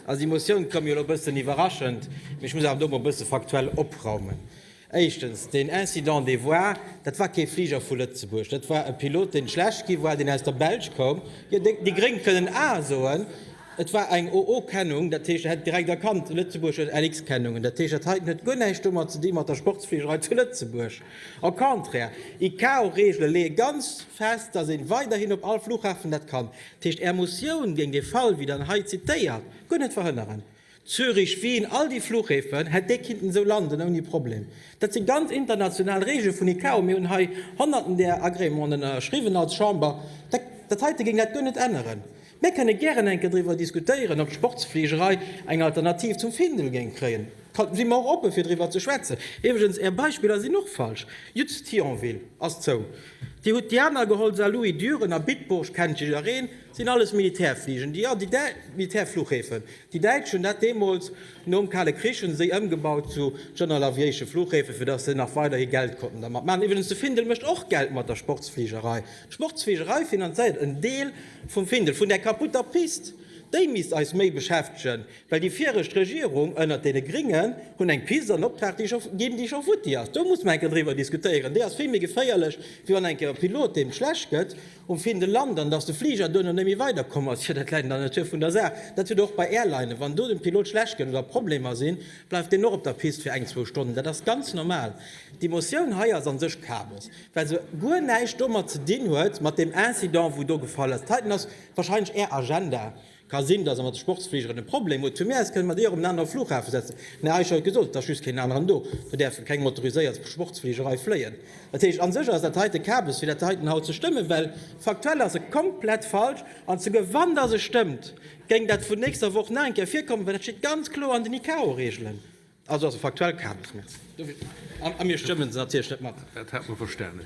Also déi Motioun koum jo elo e bëssen iwwerraschend, mee ech muss awer do emol e bësse faktuell opraumen. Éischtens, deen Incident de voir, dat war kee Fliger vu Lëtzebuerg, dat war e Pilot, dee schlecht gi war, deen aus der Belsch koum. Jo, déi Gréng kënnen A soen. Et war eng OO-Kennung, dat heescht, e hätt direkt erkannt, Lëtzebuerg huet LX-Kennungen. Dat heescht, dat heiten huet guer näischt domat ze di mat der Sportsfligerei zu Lëtzebuerg. Au contraire, ICAO-Reegele leeë ganz fest, dass ee weiderhin op all Flughafen dat kann. Dat heescht, Är Motioun géing dee Fall, wéi Der en hei zitéiert, guer net verhënneren. Zürich, Wien, all déi Fluchhäfen, hätt déi kinnten esou landen ouni Problem. Dat si ganz international Reegele vun ICAO. Mir hunn hei Honnerten där Agrémenten ënnerschriwwen als Chamber. Dat heite géing dat guer net änneren. Mir kënne gären eng Kéier driwwer diskutéieren, ob d'Sportsfligerei eng Alternativ zum Findel géing kréien. Da si mer och oppe fir driwwer ze schwätzen. Iwwregens, Är Beispiller sinn och falsch. Just Thionville ass zou. Dir hutt Diana geholl, Saarlouis, Düren a Bitburg, kennt jider een, sinn alles Militärfligen, déi, déi däi, Militärflughäfen. Déi Däitsch hunn dat deemools, nom Kale Krich, hu se déi ëmgebaut zu General Aviation Flughäfen, fir dass se nach weiderhi Geld konnten dermat maachen. Iwwregens, de Findel mécht och Geld mat der Sportsfligerei. D'Sportsfligerei finanzéiert en Deel vum Findel, vun där kaputter Pist. Déi misst eis méi beschäftegen. Well déi viregt Regierung ënnert deene Gringen hunn eng Pist an Optrag ginn, déi scho futti ass. Do muss mer eng Kéier driwwer diskutéieren. Déi ass vill méi geféierlech, wéi wann eng Kéier e Pilot, deem schlecht gëtt um Findel, lant an datt de Fliger duerno net méi weiderkomm ass. Jo, dat läit an der Natur vun der Saach. Dat huet och bei Airlinen. Wann do dem Pilot schlecht gëtt oder Problemer sinn, bleift deen och op der Pist fir eng, zwou Stonnen. Dat ass ganz normal. Déi Motioun hei ass a sech Kabes, well se guer näischt domat ze dinn huet, mat deem Incident, wou do gefall ass. Dat heiten ass wahrscheinlech Är Agenda. Ka sinn, dass Der mat de Sportsfligeren e Problem hutt. Vu mir aus kënne mer déi och op en anere Flughafen setzen. Mä eis hei gesot, et ass just keen aneren do. Do däerfe keng motoriséiert Sportsfliger hei fléien. Dat heescht, a sech ass dat heiten Kabes fir dat heiten haut ze stëmmen, well faktuell ass e komplett falsch. An souguer wann dass e stëmmt, géing dat vun nächster Woch nach eng Kéier virkommen, well dat steet ganz kloer an den ICAO-Reegelen. Also ass e faktuell Kabes. Merci. A mir stëmme se natierlech net mat. Dat hat mer verstanen.